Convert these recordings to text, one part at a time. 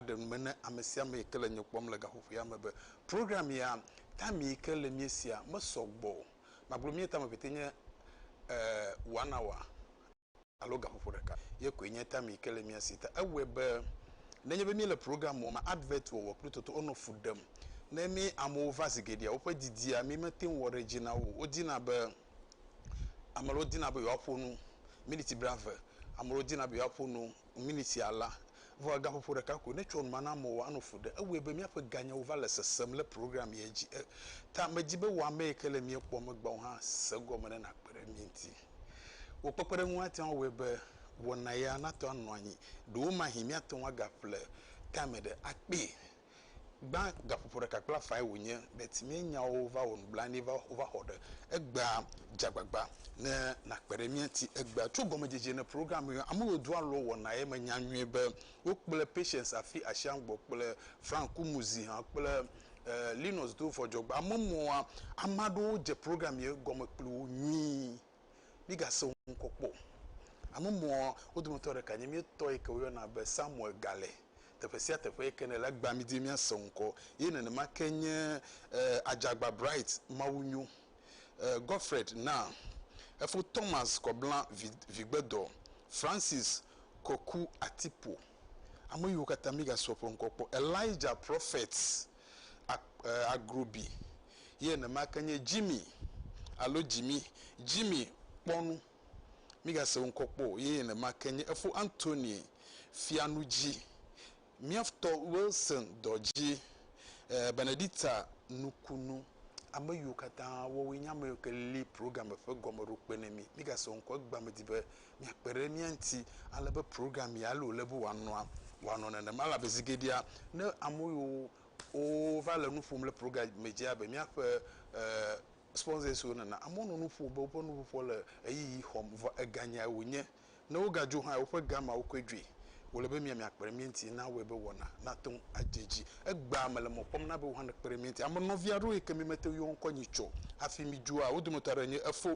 aɖe nu me ne ame sia ame yi ke le nye kpɔm le gaƒoƒoea me be program ya time yi ke le míesia mesɔ gbɔ o. Magblɔ mía time pɛtɛ nye eh one hour alo gaƒoƒo ɖeka ye koe nye time yi ke le mía si. Ta ewɔe be nenye be míele program wɔm me advert wɔwɔ kple toto wonɔ fu ɖem ne mí amewo va zi geɖea woƒe didia mí mete ŋu wɔ ɖe edzi na wo o. Wodina be. Ame aɖewo dina be yewoaƒo nu miniti blaeve. Ame aɖewo dina be yewoaƒo nu miniti ala. Vɔ egaƒoƒo ɖeka koe. Ne etsɔ nu ma na amewo anɔ fu ɖem. Ewɔe be míaƒe ganyawo va le sesem le program ye dzi. E ta medi be wò ame yi ke le mía kpɔm egbea wò hã se egɔme ne nàkpe ɖe mí ŋuti. Wò kpekpeɖeŋu ate ŋu awɔe be wɔna ya nate ŋu anɔ anyi. Ɖewomahi míate ŋu agaƒle tame ɖe akpee. Gbã gaƒoƒo ɖeka kple afae wònye be timea nyawo va wɔ nublanui va wova xɔ ɖe egbea. Dze agbagba ne nàkpe ɖe mía ŋuti egbea. Tso gɔmedzedze ne program yɔ ame yiwo doa alɔ wɔnaa ye menya nyuie be wokple Patience Afi Ashiangbɔ kple Frank Kumuzi hã kple Linus Dovhɔdzɔgbe. Ame mɔa, ame aɖewo dze program yɔ gɔme kpli wo nyuie. Mígasẽ wo ŋkɔ kpɔ o. Ame mawo, wo dometɔ ɖeka nye mía tɔ yi ke woyɔna be Samuel Gale. Teƒe sia teƒe yi ke nèle, egbea mídi be míasẽ wò ŋkɔ. Ye nenema ke nye Adzagba Bright mawunyo, Godfred Naa, efo Thomas Kɔbla Vigbedɔ, Francis Koku Atipo. Ame yiwo katã mígasẽ woƒe ŋkɔ kpɔ. Elijah Prophet a Agrobi ye nenema ke nye Jimmy alo Jimi, Jimmy kpɔ nu, migase wo ŋkɔ kpɔ o, ye nenema ke nye efo Anthony Fianudzi, miaftɔ Wilson Dɔdzi, e Benedicta Nukunu, ame yiwo katã woawoe nye ame yiwo ke li programme ƒe gɔmeɖokpe ne mi, migase wo ŋkɔ o, egba medi be miakpe ɖe mía ŋuti ale be program ya loo le be wòanɔa, wòanɔ nenema elabe zi geɖea ne ame yiwo wova le nu ƒom le program me dzia be míaƒe eh, sponsors-wo nena, amewo nɔ nu ƒom be woƒe nuƒoƒoa le ɣeyiɣi xɔm vɔ eganyae wònye. Ne wogadzo hã, woƒe gama wokɔe dzoe. Wòle be mia miakpe ɖe mía ŋuti na awɔe be wɔna nate ŋu adze edzi. Egbea mele mɔ kpɔm na be wò hã nèkpe ɖe mía ŋuti. Ame nɔvi aɖewo yi ke mi mete ŋu yɔ ŋkɔ nyi tsɔ hafi mi dzoa, wo dometɔ aɖe nye efo.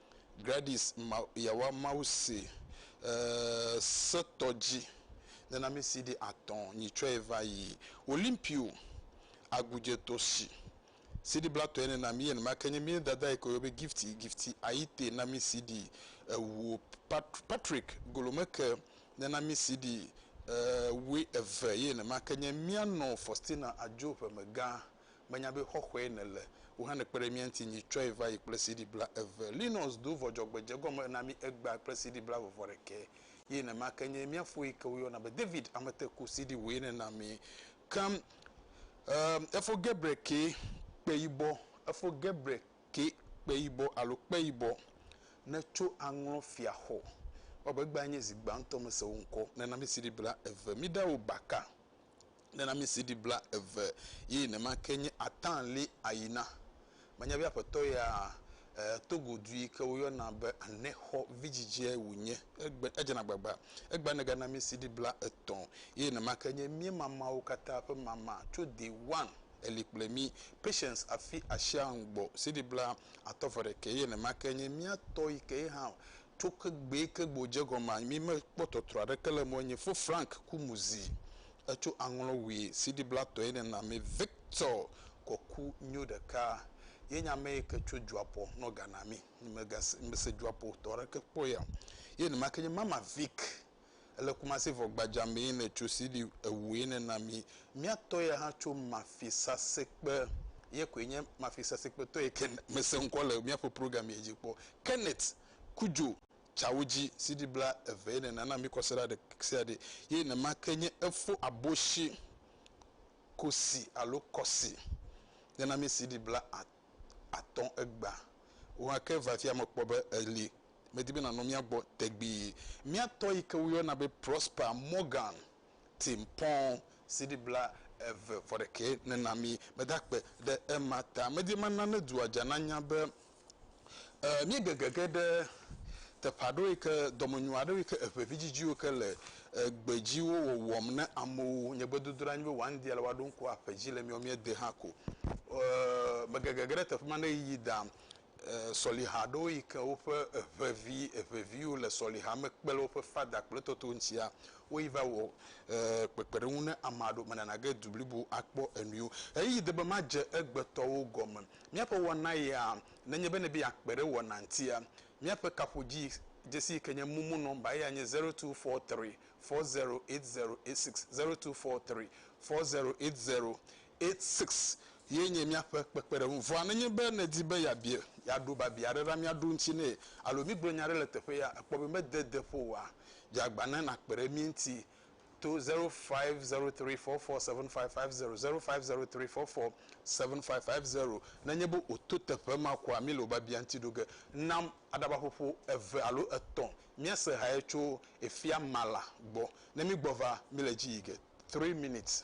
Gladys ma yawa Mawu se e se tɔ dji nena mi si ɖi atɔ nyi tsɔ ye va yi Olympio agu dje tɔ si si ɖi bla tɔ ye nena mi yen ma ke nye mi dada yi ke woyɔ be gifty gifty ayi te na mi si ɖi ewu pat Patrick golo me ke nena mi si ɖi e wue eve yen ma ke nye mia nɔ Faustina adjo ƒe me gã. Menya be xɔxɔe nèle. Wò hã nèkpe ɖe mía ŋuti nyi. Tsɔe va yi kple CD blaeve. Linus do vɔ dzɔgbedze gɔme na mí egbea kple CD blaveve ɖekɛ. Ye nema ke nye mía fo yi ke woyɔna be David Ameteku CD wòe nèna mí. Ke emm efo Gebre ke kpe yibɔ, efo Gebre ke kpe yibɔ alo kpe yibɔ netso aŋlɔ fia xɔ. Ewɔ abe egbea nye zi gbãtɔ mese wò ŋkɔ. Nèna mí CD blaeve. Míɖe wò baka nena mi CD blaeve ye nemake nye atã li ayi na. Manya be aƒetɔ ya e Togo du yi ke woyɔna be anexɔ vidzidze wu nye. Egbe edzena gbagba. Egbea nega na mi CD bla etɔ ye nemake nye mie mamawo kata ƒe mama tso day one eli kple mi. Patience afi asia ŋgbɔ CD bla atɔ vɔ ɖeke ye nemake nye mia tɔ yi ke ye hã Tso kegbee ke gbe wòdze gɔme anyi mi mekpɔ tɔtrɔ aɖeke le eme o. Nye fo Frank ku mu zi etso aŋlɔ wui siɖibla tɔe nɛ na mi. Victor kɔ ku nyo ɖeka ye nye ame yi ke tso Dzuapo nɔ ga na mi. Nye megase, mese Dzuapo tɔ aɖeke kpɔ ya. Ye enumake nye mama Vic Ele Kumasi vɔ gbadza me yi le tso CD ewu yi ne na mi. Miatɔ ya hã tso Mafisasekpe ye koe nye Mafisasekpe tɔ yi ke me se ŋkɔ le miaƒe program ye dzi kpɔ. Kenneth Kudjo tsawo dzi CD bla eve yi ne na na mi kɔsiɖa ɖe sia ɖe ye ne ma ke nye efo aboshi kosi alo kɔsi ne na mi CD bla atɔ egba wo hã ke vafia me kpɔ be eli medi be nànɔ mía gbɔ tegbee. Mía tɔ yi ke woyɔna be Prosper Morgan ti mpɔ̃ CD bla eve vɔ ɖekɛ ne na mí. Meda akpe ɖe ema ta. Medi mana ne dua dza nanya be míegege ge ɖe teƒe aɖewo yi ke dɔmenyo aɖewo yi ke eŋevidzidziwo yi ke le gbedziwo wɔwɔm ne amewo. Nye gbedodoɖa nye be wòaŋdi ale woaɖo ŋku aƒe dzi le mía míade hã ko. Megege ge ɖe teƒe ma ne ɣeyiɣi da sɔliha aɖewo yi ke woƒe eŋevi eŋeviwo le sɔliha me kpe ɖe woƒe fada kple tɔtɔwo ŋutia, woyi va wɔ kpekpeɖeŋu ne ame aɖewo bene nage du blibo akpɔ enuiwo. Ɣeyiɣi de be madze egbetɔwo gɔme. Míaƒe wɔna ya, nenye be nèbe yeakpe ɖe wɔna ŋutia, míaƒe kaƒodzii dzesi yi ke nye momo nɔmba eya nye zero two four three four zero eight zero eight six, zero two four three four zero eight zero Six ye nye míaƒe kpekpeɖeŋu. Vɔa nenye be nèdi be yeabia, yeaɖo biabia aɖe ɖa míaɖo eŋuti nɛ alo míegblɔ nya aɖe le teƒe ya, èkpɔ be mede de ƒo oa, dze agba ne nàkpe ɖe mí ŋuti to zero five zero three four four seven five five zero, zero five zero three four four seven five five zero. Nenye be wòto teƒe ma koa, míle wò biabia ŋuti ɖo ge. Nam aɖabaƒoƒo eve alo etɔ̃ míase hae tso Efya Mala gbɔ. Ne mígbɔ va, míle edzi yi ge. Three minutes.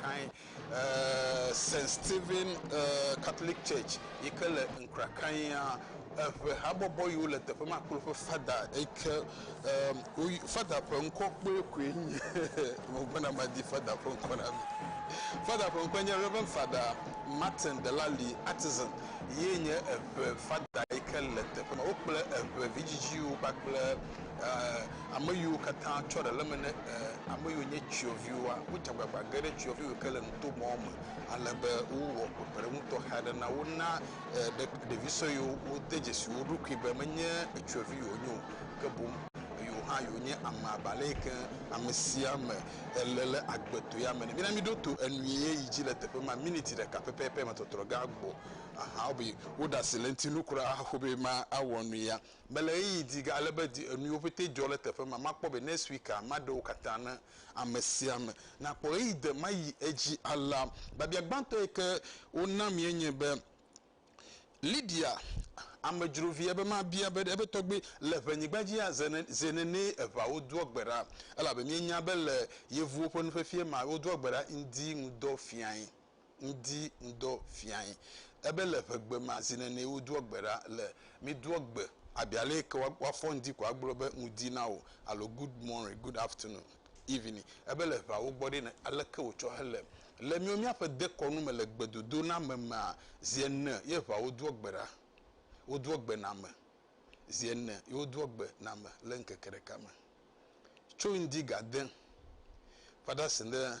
Krakai, uh, St. Stephen uh, Catholic Church yi ke le Nkrakaia eŋe habɔbɔ yiwo le teƒe ma kple woƒe fada yi ke Emm woy father ƒe ŋkɔ kpɔe koe nye megbɔna madi father ƒe ŋkɔ na mi. Father ƒe ŋkɔe nye Reverend Father Martin Delali Atizan ye nye eŋe father yi ke le teƒe ma. Wokple eŋe vidzidziwo kpakple eh ame yiwo katã tsɔ ɖe le eme ne eh ame yiwo nye tsɔviwoa wodze agbagba ge ɖe tsɔvi yiwo ke le nuto mɔ me ale be wowɔ kpekpeɖeŋu tɔxɛ aɖe na wo na ɖevi suewo wode dzesi wo ɖokui be menye ŋutsuvi ye wonye o ke boŋ yewo hã wonye ame abe ale yi ke ame sia ame ele ɖe agbetɔe ame ene. Mina míɖo to enu ye yi dzi le teƒe ma miniti ɖeka pɛpɛpɛ me tɔtrɔ gã gbɔ. Aha wobe woɖe asi le eŋuti nu kura hafi be mawɔ nu ya. Mele ɣeyiɣi di ale be di enuwo pɛtɛ dzɔ ɖe teƒe ma. Makpɔ be next week maɖe wo katã ne ame sia ame nakpɔ ɣeyiɣi de ma yi edzi alea. Biabia gbãtɔ yi ke wona mía nye be, Lidia, amedzrovi, ebe mabia be ebe tɔgbui le ʋenyigba dzia? Zi nenee eʋawo doa gbe ɖa, elabe míenya be le Yevuwo ƒe nufiafia mea, wodoa gbe ɖa ŋdi ŋudɔ fiae. ŋdi ŋdɔ fiae. Ebe le ƒegbe ma zi nene wodoɔ gbe ɖa le midoɔ gbe abi ale yi ke woafɔ ŋdi ko agblɔ be ŋdi na wò alo good morning, good afternoon, evening. Ebe le ʋea wogbɔ ɖe ne ale ke wotsɔ hele. Le miwo miaƒe dekɔnu me le gbedodo na ame mea zi ene ye ʋea wodoɔ gbe ɖa, wodoɔ gbe na ame zi ene ye wodoɔ gbe na ame le ŋkeke ɖeka me. Tso ŋdi gade va ɖe asi ɖe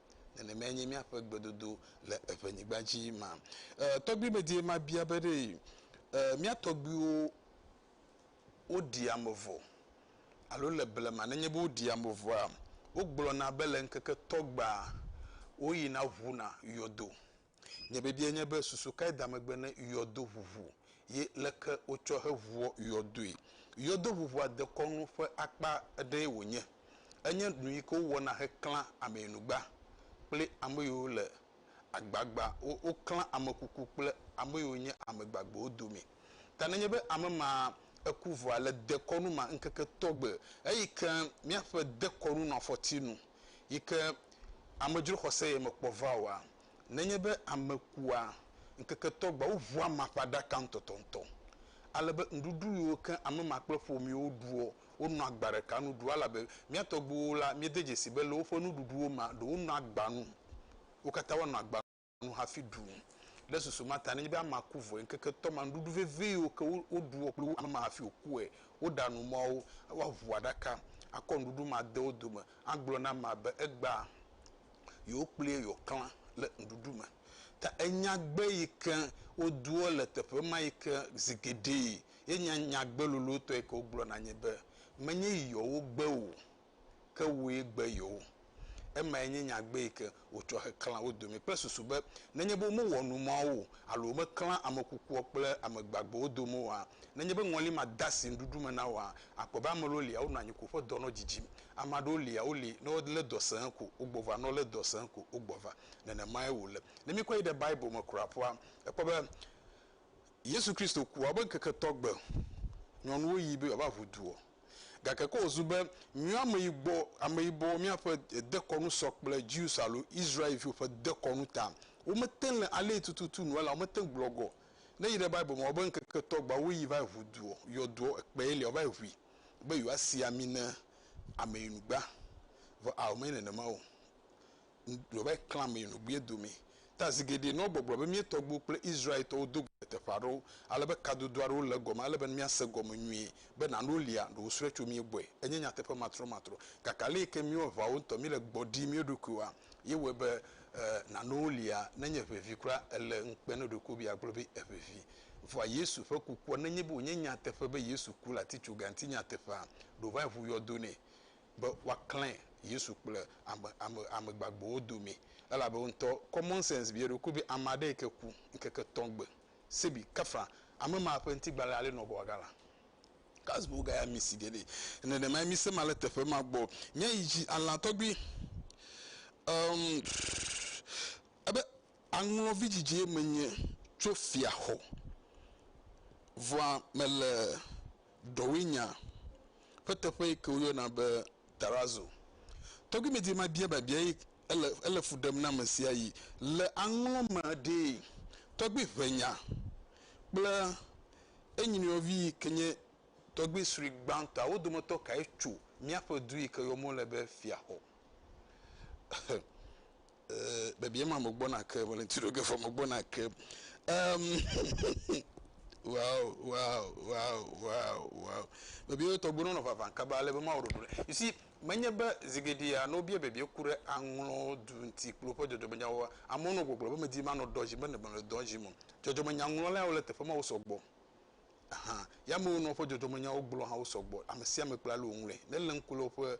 Nenemae nye míaƒe gbedodo le eƒe nyigba dzi ma. E, tɔgbui me die mabia be ɖe e, mía tɔgbuiwo woɖi ame vɔ alo le blema nenye be woɖi ame vɔa, wogblɔna be le ŋkeke tɔgbea woyina ʋuna yɔdo. Nye biabia nye be susu kae da megbe ne yɔdo ʋuʋu ye leke wotsɔ heʋuɔ yɔdoe? Yɔdo ʋuʋua dekɔnu ƒe akpa aɖee wònye. Enye nu yi ke wowɔna heklã ameyinugba kple ame yiwo le agbagba. Woklã ame kuku kple ame yiwo nye ame gbagbewo dome. Ta nenye be ame ma eku vɔa, le dekɔnu ma ŋkeke tɔgbe eyi ke míaƒe dekɔnu nɔ afɔti nu. yi ke amedzro xɔse ye mekpɔ va oa? Nenye be ame kua, ŋkeke tɔ gbɔa woʋua amea ƒe aɖaka ŋutɔtɔŋutɔ, ale be nuɖuɖu yiwo ke ame ma kple ƒomeawo ɖuɔ, wonɔa agba ɖeka nu ɖua, elabe mía tɔgbuiwo la, míede dzesii be le woƒe nuɖuɖuwo mea, ɖe wonɔa agba nu, wo katã woanɔ agba nu. nu hafi ɖu nu. Ɖe susu ma ta, nenye be amea ku vɔe ŋkeke etɔ̃ ma, nuɖuɖu vevi yiwo ke woɖuɔ kple ame ma hafi wòkue, woɖa nu mawo, woaʋu aɖaka, akɔ nuɖuɖu ma de wo dome, agblɔ na amea be egbea yewo kplie yewoaklã le nuɖuɖu me. Ta enyagbe yi ke wodoa le teƒe ma yi ke zi geɖee ye nye nyagbe lolotɔ yi ke wogblɔna nye be, Menye yi yɔwo gbe o. ke wue gbe yewo. Emae nye nyagbe yi ke wotsɔ heklã wo dome kple susu be nenye be womewɔ nu mawo o alo womeklã ame kukua kple ame gbagbewo dome oa, nenye be ŋɔli madasi nuɖuɖu me na woa, akpɔ be ame aɖewo lia wonɔ anyi ko ƒe dɔ nɔ dzidzim. Ame aɖewo lia woli ne wolé dɔ sẽe ko wogbɔ va, ne wolé dɔ sẽe ko wogbɔ va. Nenemae wòle. Ne míkɔ yi ɖe Bible me kura ƒua, ekpɔ be Yesu Kristo kua, wobe ŋkeke tɔgbe nyɔnuwo yi be yewoava ʋu duɔ? Gake ko wòzu be míwoameyibɔ, ameyibɔwo míaƒe dekɔnu sɔ kple Jews alo Israelviwo ƒe dekɔnu ta, womete ŋu le alii tututu nu elawo mete ŋu gblɔ gɔ. Ne yi ɖe Bible me wobe ŋkeke etɔ̃ gbɔa woyi va yi ʋu duɔ, yɔ duɔ, ekpee lia wova yi ʋui be yewoasi ami ne ameyinugba. Vɔ ao menye nenema o. gblɔ be, Klã mi nu gbie do mi. Ta zi geɖe nɔ gbɔgblɔ be mía tɔgbuiwo kple Israel-tɔwo do go le teƒe aɖewo ale be kadodo aɖewo le egɔme ele be ne míase gɔme nyuie be nano lia ɖe wosrɔe tso mía gbɔe. Enye nyateƒe matrɔmatrɔ. Gake aleyike míewɔ aʋawo ŋutɔ, míle gbɔ ɖim mía ɖokuiwoa, ye wɔe be nano lia nenye ʋeʋi kura ele ŋukpe ne ɖeko be yeagblɔ be eʋeʋi. Vɔa Yesu ƒe kukua, nenye be wònye nyateƒe be Yesu ku le atitsoga ŋuti nyateƒea, ɖo ʋãe ʋu yɔdo nɛ. be woaklẽ Yesu kple ame, ame, ame gbagbewo domee. Elabe woŋutɔ common sense bia eɖokui be, Ame aɖe yi ke ku ŋkeke etɔ̃ gbe sebi, kafã ame ma ƒe ŋutigbalẽ alé nɔ gbɔ agalã? Kazi be wogaya misi geɖe? Nenemae mise ma le teƒe ma gbɔ. Míayi dzi alã tɔgbi. Em, ebe aŋlɔ vidzidzie menye tso fiaxɔ. Vɔa mele Dɔwòe nya ƒe teƒe yi ke woyɔna be tarazo. Tɔgbuimedie ma bia biabia ye ele ele fu ɖem na ame sia yi le aŋlɔ me ɖee. Tɔgbui ʋe nya kple enyinɔvi yi ke nye tɔgbui srui gbãtɔa wo dometɔ kae tso míaƒe du yi ke yɔm wole be Fiaxɔ? Eh, bebie ma mo gbɔna ke mele ŋuti ɖo gefa mo gbɔna ke. Um, wow, wow, wow, wow, wow. Bebie tɔgbe nɔnɔ vavã kaba ale be mawo ɖoɖo ɖe. You see, menye be zigeɖia no bia bebie ku ɖe aŋlɔ du ŋuti kple woƒe dzɔdzɔmenyawo. Amewo nɔ gbɔgblɔ be medi manɔ dɔ dzi be ne mele dɔ dzi mo. Dzɔdzɔmenyaŋlɔlawo le teƒe ma wo sɔgbɔ. hã. Yamewo nɔ woƒe dzɔdzɔmenyawo gblɔ hã wosɔ gbɔ. Ame sia ame kple ale wòŋlɔe. Nelé ŋku le woƒe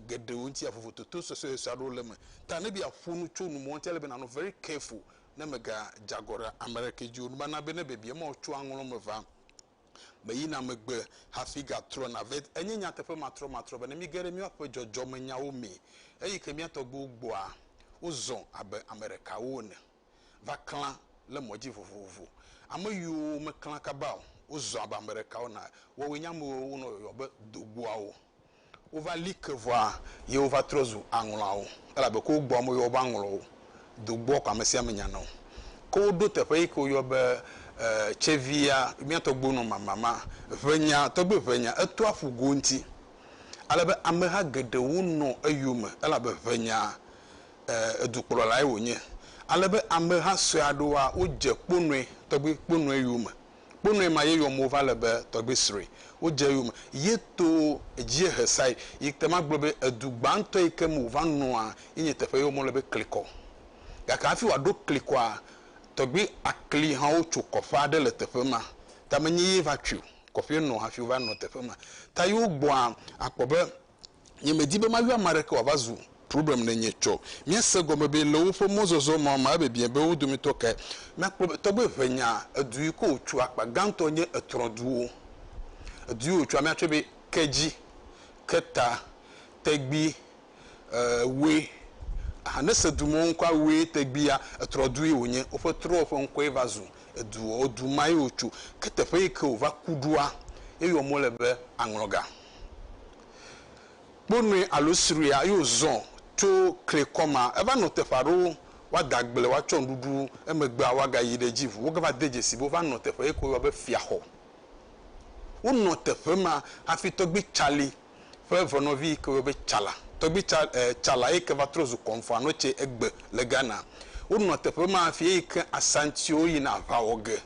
geɖewo ŋuti ya, vovototo suesuesue aɖewo le eme. Ta ne be yeaƒo nu tso nu me ŋuti, ele be nànɔ very careful ne mègadze agɔ ɖe ame aɖeke dzi o. Nubana be ne biabia ma wòtso aŋlɔ me va me yina megbe hafi gatrɔna vɛ. Enye nyateƒe matrɔmatrɔ be ne míege ɖe míaƒe dzɔdzɔmenyawo mee, eyi ke mía tɔgbuiwo gbɔa, wozɔ abe ame ɖekawo ene. va klã le mɔ dzi vovovo. Ame yiwo meklã kaba o, wozɔ abe ame ɖeka wona. Woawoe nye ame yiwo wonɔ yɔyɔm be dogboawo. Wova li ke vɔa, ye wova trɔ zu aŋlɔawo, elabe ke wogbɔa woyɔa wo be aŋlɔwo. Dogboa ko ame sia ame nyana o. Ke woɖo teƒe yi ke woyɔ be tsevia, mía tɔgbuiwo nɔ mama ma, ʋenya, tɔgbi ʋenya, eto aƒu go ŋuti, ale be ameha geɖewo nɔ eyome, elabe ʋenya dukplɔlae wònye, ale be ameha sue aɖewoa, wodze kponɔe, tɔgbi kponɔe yome. Kponɔe ma ye yɔm wova le be tɔgbi srɔe. Wodze eyome ye to dziehe sae, yi ke magblɔ be edu gbãtɔ yi ke me wòva nɔa ye nye teƒe ye wome le be klikɔ. Gake hafi wòaɖo klikɔa, tɔgbi akli hã wotso kɔƒe aɖe le teƒe ma. Ta menye ye va tsoe o, kɔƒee nɔ hafi wova nɔ teƒe ma. Ta ye wogbɔa, akpɔ be nye medi be mayɔ ame aɖeke wòava zu problem ne nye tsɔ. Míase gɔme be le woƒe mɔzɔzɔ ma me abiabiã be wo dometɔ kae nakpɔ be tɔgbe eve nya edu yi ke wòtso akpa gãtɔ nye etrɔduwo. Edu yi wòtsoa míatsɔe be Kedzi, Keta, Tegbi, Ewe. Aha ne ese du me wo ŋkɔa Ewe, Tegbi ya etrɔdu ye wònye. Woƒe trɔ ƒe ŋkɔe va zu eduɔ. Edu ma ye wotso. Ke teƒe yi ke wòva ku ɖoa ye yɔm wole be Aŋlɔga. Kpo nɔe alo sroea eye wòzɔ tso klikɔ ma. Eva nɔ teƒe aɖewo, woada agble, woatsɔ nuɖuɖu, emegbea woagayi ɖe edzi ʋu. Wogava de dzesi be wova nɔ teƒe yike woyɔa be Fiaxɔ. Wonɔ teƒe ma hafi Tɔgbui Tsali ƒe evenɔvi yike woyɔ be Tsala, Tɔgbui Tsa, e, Tsala yike va trɔ zu Kɔnfuanɔ tse egbe le Ghana. Wonɔ teƒe ma hafi eyike Asantiwo yina aʋa wɔ ge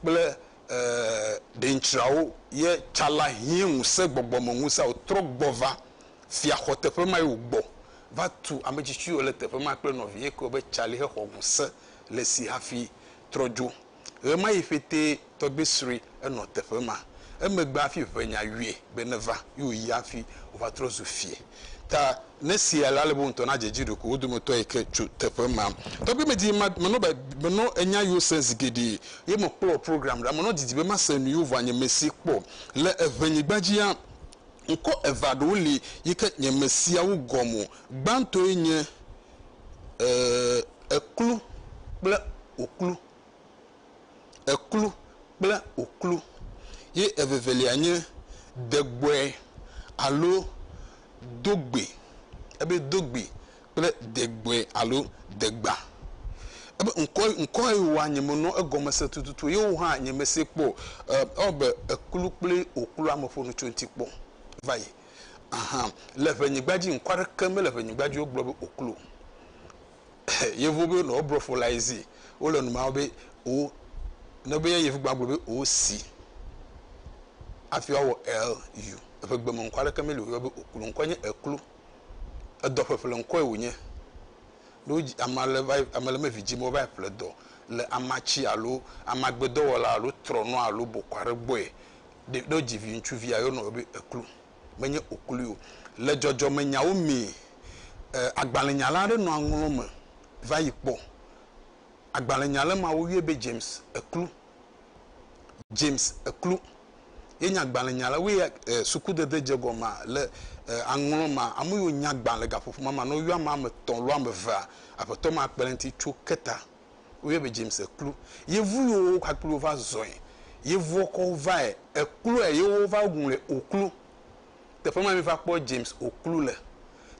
kple Ee, ɖeŋtsrawo ye tsala hiẽ ŋusẽ gbɔgbɔme ŋusẽa wòtrɔ gbɔ va fiaxɔ teƒe mae wògbɔ va tu ametsitsiwo le teƒe ma kple nɔviye kewo be tsali hexɔ ŋusẽ le esi hafi trɔ dzo. Ɣemaɣi ƒetee tɔgbui sue enɔ teƒe ma. Emegbe hafi ʋenya yɔe be neva ye wòyi hafi wòva trɔ zu fie. Ta ne sia le ale be wo ŋutɔ nadze edzi ɖeko wo dometɔ yi ke tso teƒe ma. Tɔgbi medi ma menɔ ba menɔ enya yiwo sem zi geɖe ye mekpɔ program ɖa menɔ didi be mase nu yiwo vɔa nye mesi kpɔ le eʋe nyigba dzia ŋkɔ eve aɖewo li yi ke nye mesiawo gɔme gbãtɔe nye e eklu kple oklu. eklu kple oklu ye evevelia nye degbɔe alo dogbɛ. Ebe dogbɛ kple degbɔe alo degba. Ebe ŋkɔ ŋkɔ ye woa nye me nɔ egɔme se tututu ye wo hã nye me se kpɔ o. E ewɔ abe eklu kple oklua me ƒo nu tso ŋuti kpɔ va yi. Ahan le ŋenyigba dzi ŋkɔ aɖeke mele ŋenyigba dzi wogblɔ be oklu o. Yevuwo be nɔ wobrɔ fo la yi zi, wole nu ma be o ne be yevu gba gblɔ be o si afi wawɔ el yu eƒe gbe me ŋkɔ aɖeke meli o yɔ be oklu ŋkɔ nye eklu edɔ ƒeƒle ŋkɔe wònye ne wodzi ame ale va ame le mevi dzime wova ƒle dɔ le amatsi alo amagbedɔwɔla alo trɔnɔ alo bɔkɔ aɖe gbɔe ɖe ɖe wodzi vi ŋutsuvia yɔ nɔ be eklu menye oklui o. Le dzɔdzɔmenyawo mee, agbalẽnyala aɖe nɔ aŋlɔ me va yi kpɔ agbalẽnyala ma woyɔe be James Eklu. James Eklu ye nye agbalẽnyala woe ya sukudede dze gɔmea le aŋlɔ ma ame yiwo nya agbalẽ gaƒoƒo ma me ne woyɔ ame etɔ̃ alo ame evea aƒetɔ ma kpe ɖe eŋuti tso ke ta. Woyɔe be James Ekplu. Yevu yiwo wo kpakple wo va zɔe. Yevua kɔ wo vae. Ekplɔe ye wova ŋlɔe Oklu. Teƒe ma miva kpɔ James Oklu le.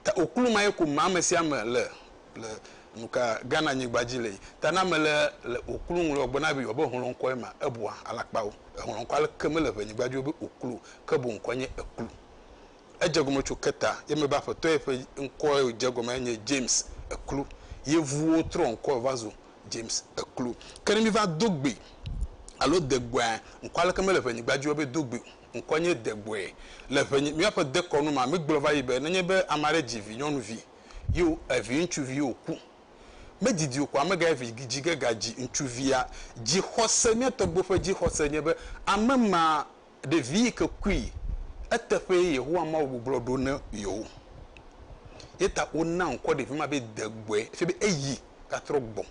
Ta Oklu ma ye ko me ame sia ame le le nuka Ghana nyigba dzi le. Ta ne ame le le Oklu ŋlɔ gbe na be yewoa be hlɔ ŋkɔ ye ma, ebua alakpawo. Ehlɔ ŋkɔ aleke mele ŋe nyigba dzi wo be Oklu o. Ke boŋ ŋkɔ nye Ekplu. Edze egɔme tso keta ye me be aƒetɔ ye ƒe ŋkɔ ye wodze egɔmea nye James Eklu. Yevuwo trɔ ŋkɔe va zu James Eklu. Ke ne míva do gbe alo degbɔea, ŋkɔ aleke mele ŋɛnyigba dzi o be do gbe o. Ŋkɔ nye degbɔe. Le ŋɛnyi, míaƒe dekɔnu mea, mígblɔ va yi be nenye be ame aɖe dzi vi nyɔnuvi ye o, evi ŋutsuvi ye o ku. Medidi o ko ame gaye vi dzi ge ga dzi ŋutsuvia. Dzixɔse, mía tɔgbuiwo ƒe dzixɔse nye be ame ma Ɖevi yi ke kui eteƒee Yehowa Mawu gbuglɔ ɖo ne yewo. Ye ta wona ŋkɔ ɖevi ma be degbɔe, efia be eyi gatrɔ gbɔ.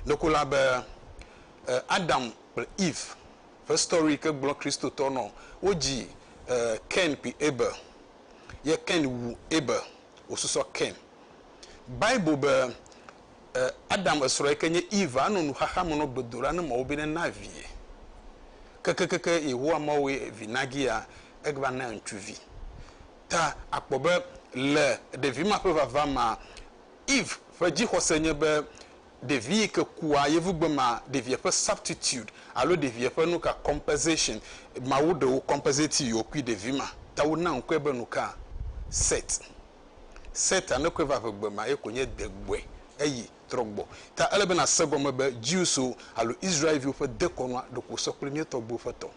Ɖeko la be Adam kple Eve ƒe story yi ke gblɔ Kristotɔ nɔ wodzi Kain kple Abel ye Kain wu Abel wosusɔ Kain. Bible be. E, Adam esrɔ̃ yi ke nye Eve anɔ nuxaxa me nɔ gbedoɖa ne Mawu be nena vie. Kekekeke Yehowa Mawu ye vi nagi ya, egba na ŋutsu vi. Ta akpɔ be le ɖevi ma ƒe vava mea, Eve ƒe dzixɔse nye be ɖevi yi ke kua, yevugbe mea, ɖevia ƒe substitute alo ɖevia ƒe nuka, compensation, Mawu ɖe wo compensate yewo kui ɖevi ma. Ta wona ŋkɔe be nuka? Set. Se ta nekoe va ƒe gbe ma ye konye de gbɔe eyi trɔ gbɔ ta ele be na se gɔme be Jews wo alo Israel viwo ƒe de kɔnua ɖoko sɔ kple mía tɔgbuiwo ƒe tɔ.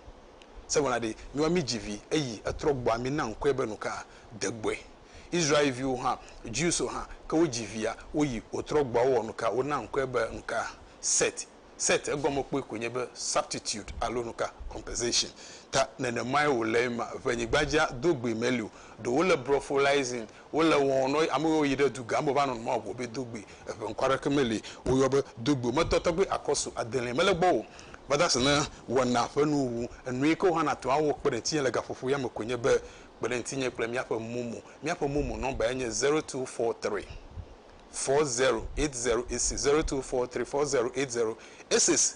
Se wɔna ɖe mi wa mi dzi vi eyi etrɔ gbɔa mi na ŋkɔe be nuka de gbɔe Israel viwo hã Jews wo hã ke wo dzi via wo yi wo trɔ gbɔa wo wɔ nuka wo na ŋkɔe be nuka Set Set egɔme kpɔe koe nye be substitute alo nuka, compensation, ta nenemae wòle ema. Ʋɛnyigbadzea do gbee meli o. Ɖo wole brophylizing, wole wɔwɔm nɔ ame yiwo yi ɖe dugã me va nɔnɔme wɔwɔ be do gbe. Eŋe ŋkɔ aɖeke meli woyɔ be do gbe o. Metɔ tɔgbe akɔsu adelia mele gbɔ o. Meda asi ne wɔna ƒe nuwuwu. Enu yi ke wohana to awɔ kpe ɖe ŋutinye le gaƒoƒo ya me koe nye be kpe ɖe ŋutinye kple míaƒe momo. Míaƒe momo nɔmba yae nye zero two four three. 08086 02434080886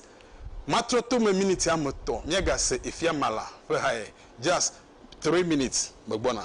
Matrɔtome miniti ame etɔ̃ Míagase efia Mala ƒe hae Just three minutes Megbɔna.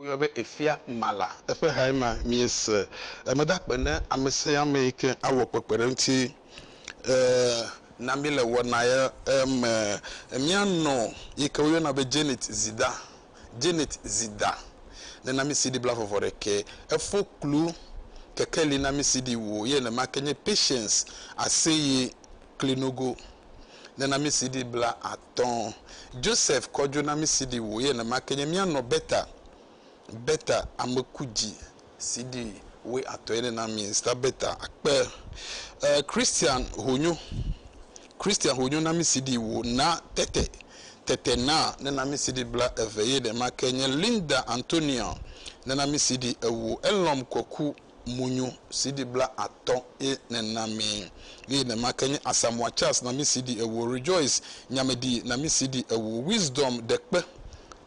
Woyɔe be Efia Mala. Eƒe hae ma, miese. Emeda akpe ne amesiame yi ke awɔ kpekpeɖeŋuti na mí le wɔnaya me. Mía nɔ yi ke woyɔna be Janet Zida, Janet Zida, nena mí CD blaevɔvɔɖekɛ. Efo kplu kekeli na mí CD wo. Ye nenema ke nye Patience Aseye klinogo ne namisidi bla atɔ̃. Joseph kɔdjo namisidi wo ye nɛma ke nye mia nɔ beta beta amekudji sidi woe atɔ̃ ye ne na mi sta beta akpe. E Christian honyo Christian honyo namisidi wo na tete tete na ne namisidi bla eve ye nɛma ke nye Linda Antonia ne namisidi ewo elɔm kɔku. munyu CD bla atɔ̃ ye nèna mii. Eye nema ke nye Asamoah Charles na mí CD ewo, Rejoice Nyamedi na mí CD ewo, Wisdom Dekpe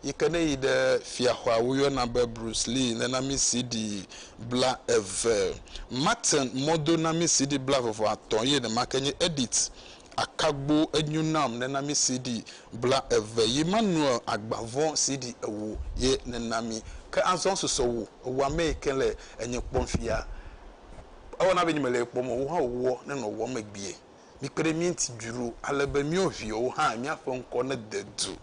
yi ke ne yi ɖe Fiaxɔa woyɔna be Bruce Lee nena mí CD bla eve. Martin Modo na mí CD bla veve atɔ̃ ye nema ke nye Edith akagbo enyo nam nena mi CD bla eve yi Manuel agbavɔ CD ewo ye nena mi ke azɔ susɔ wo ewo ame yi ke le enye kpɔm fia ewa na be nye me le ekpɔm ewo hã ewɔ ne nɔ wɔ megbie mi kpe ɖe mi ŋti dzro ale be miɔ viɔwo hã mia ƒe ŋkɔ ne de du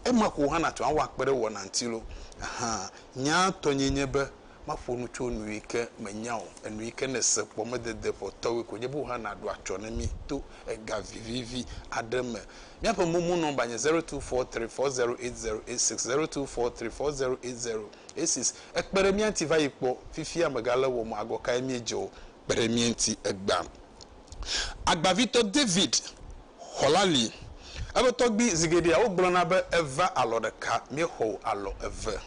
ema ko hã na tu awa kpe ɖe wɔ na ŋti lo ahan nya tɔ nye nye be Maƒo nu tso nu yi ke mènya o, enu yi ke nèse kpɔ medede ƒotɔwoe ko nye be wohã nàɖo atsyɔ̃ na mí to ega vivivi aɖe me. Míaƒe momo nɔmba nye zero two four three four zero eight zero eight six, zero two four three four zero eight zero eight six. Ekpe ɖe mía ŋuti va yi kpɔ. Fifia mègale wɔm o, agɔ kae míedze o? Kpe ɖe mía ŋuti egbea. Agbavitɔ David xɔ la li. Eƒe tɔgbui zi geɖea wogblɔna be eva alɔ ɖeka, míexɔ o alɔ eve.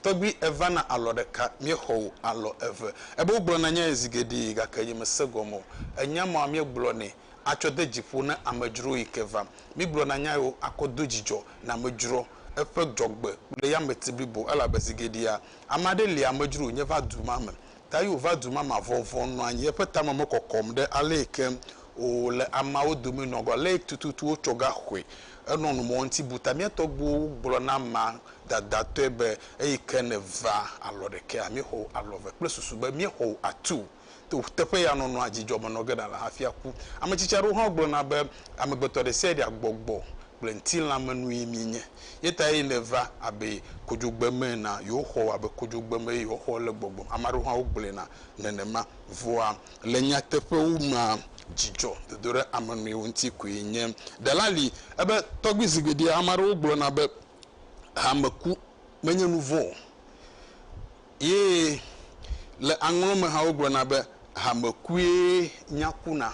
Tɔgbui èvana alɔ ɖeka, míexɔ wò alɔ eve. Ebe wogblɔna nyae zi geɖe, gake nyemese gɔme o. Ènya mɔ míegblɔnɛ atsɔ de dzi ƒo na amedzro yi ke vam. Míegblɔna nyaewo akɔ do dzidzɔ na amedzroa, eƒe dzɔgbe kple yameti blibo, elabe zi geɖea, ame aɖe lia amedzro wònye va du ma me. Ta Yehowa va du ma me avɔvɔ̃ nɔ anyi, eƒe tame mekɔkɔm ɖe alẽe ke o le ameawo dome nɔ agbagba alẽe tututu wotsɔ gaxɔe. Enɔ nu mɔ ŋuti bu ta. Mía tɔgbuiwo gblɔ na amea dadatɔe be, Eyi ke nèva alɔ ɖekea, míexɔ wò alɔ eve kple susu be míexɔ wò atu. To teƒe ya nɔnɔa, dzidzɔ menɔ ge ɖa le hafi aku. Ame tsitsi aɖewo hã gblɔna be, Amegbetɔ ɖe sia ɖea gbɔgbɔ kple ŋtilã me nue mienye. Ye tae ne eva abe kodzogbe me enea, yewoxɔ wò abe kodzogbe me eye woaxɔ le gbɔgbɔ me. Ame aɖewo hã wogblɔe na nenema. Vɔa, le nyateƒewo mea, dzidzɔ dodo ɖe ame nɔewo ŋuti koe nye. Ɖela li ebe, Tɔgbui zi geɖe ame aɖewo gblɔna be hame ku menye nu vɔ̃ o. Ye le aŋlɔ me hã wogblɔna be hame kue nya kuna.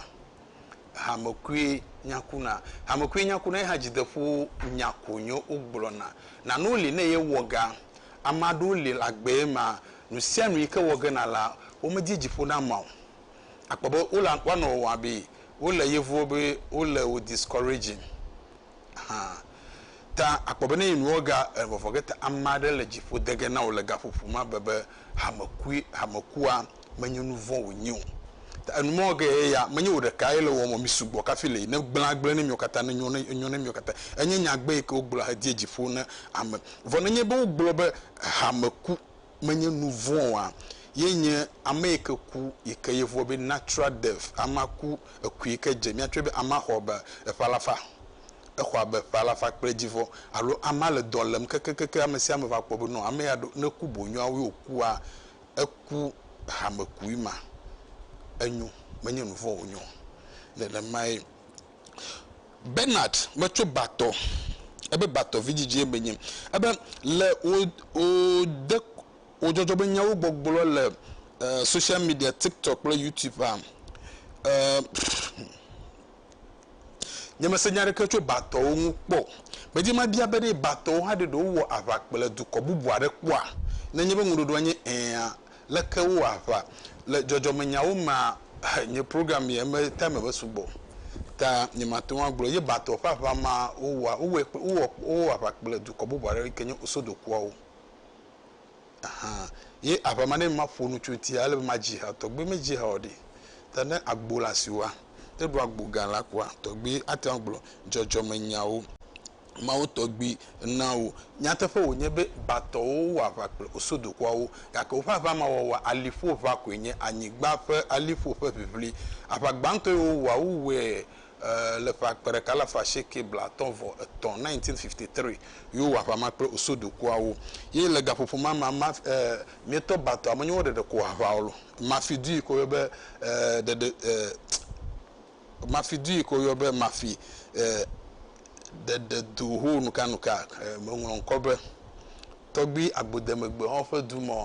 hamekuie nya kuna. Hamekuie nya kuna ye hã dzideƒo nya ko nyo wogblɔna. Nanewo li ne ye wɔ ga. Ame aɖewo li le agbe ye ma nusianu yi ke wɔ ge na la wo me di dziƒo na ma o. Akpɔ be wole woanɔ wɔwɔm abe wole yevuwo be wole wo discouraging. hã. Ta akpɔ be ne yi nuwo ga e vɔvɔ ge ta ame aɖe le dziƒo de ge na wò le gaƒoƒo ma be be hamekui hamekua menye nu vɔ̃ wònye o. Ta enu mɔ ge ye ya menye wò ɖeka ye le wɔ mɔ mi sugbɔ kafi le yi ne gblẽ agblẽ ne miwo katã ne nyo ne enyo ne miwo katã. Enye nyagbe yi ke wogblɔ hediɛ dziƒo ne ame. Vɔ nenye be wogblɔ be hame ku. menye nu vɔ̃ oa, ye nye ame yi ke ku yi ke yevuɔ be natural death, amea ku eku yi ke dze mía tsɔe be amea xɔ be eƒe alafa, exɔ abe eƒe alafa kple edzi vɔ alo amea le dɔ lem kekekekeŋ ame sia ame va kpɔ be nɔ ame ya ɖo ne ku boŋ yɔa woe wokua, eku hamekui ma enyo menye nu vɔ̃ wonye o. Nenemae. Bernard be tso Batɔ, ebe Batɔ vidzidzie menye. Ebe le wò wò de wò dzɔdzɔ be nyawo gbɔgblɔ le social media TikTok kple YouTube a, eh, nye mese nya ɖeke tso Batɔwo ŋu kpɔ o. Medzi be mabia be ɖe Batɔwo hã ɖe ɖe wowɔ aʋa kplɔe dukɔ bubu aɖe kpɔa? Ne nye be ŋuɖoɖoa nye ɛ̃a, Leke wo wɔ aʋa le dzɔdzɔme nyawo mea? Nye program ye me time me sugbɔ o ta nye ma te ŋu agblɔ ye ba tɔ ƒe aʋa ma wo wɔa. Wo wɔe kple wo wɔ wo wɔ aʋa kple dukɔ bubu aɖe yike nye Osodokuawo hã ye aʋa ma ne ma ƒo nu tso ŋuti ale be ma dzi ha tɔgbi me dzi ha o ɖi ta ne agbo le asiwòa ne ɖo agbo gã la kɔa tɔgbi ate ŋu agblɔ dzɔdzɔme nyawo Mawu tɔgbi na wo. Nyateƒe wònye be Batɔwo wɔ aʋa kple Osodokuawo, gake woƒe aʋa ma wɔwɔa aliƒoʋa koe nye anyigba ƒe aliƒo ƒe ʋiʋli. Aʋa gbãtɔ yi wowɔa, wowɔe le ƒe akpe ɖeka alafa asieke blaatɔ̃ vɔ etɔ̃, 1953, yi wowɔ aʋa ma kple Osodokuawo. Ye le gaƒoƒo ma mea, ma, e, mietɔ Batɔ amenyewo ɖeɖe ko aʋa ɔlɔ. Mafi du yi ke woyɔ be, e, ɖeɖe, e, Mafidue ke woyɔ be Mafi ɖeɖe do ho nukanuka. Meŋlɔ ŋkɔ be tɔgbi agbodemegbehɔ ƒe du mɔ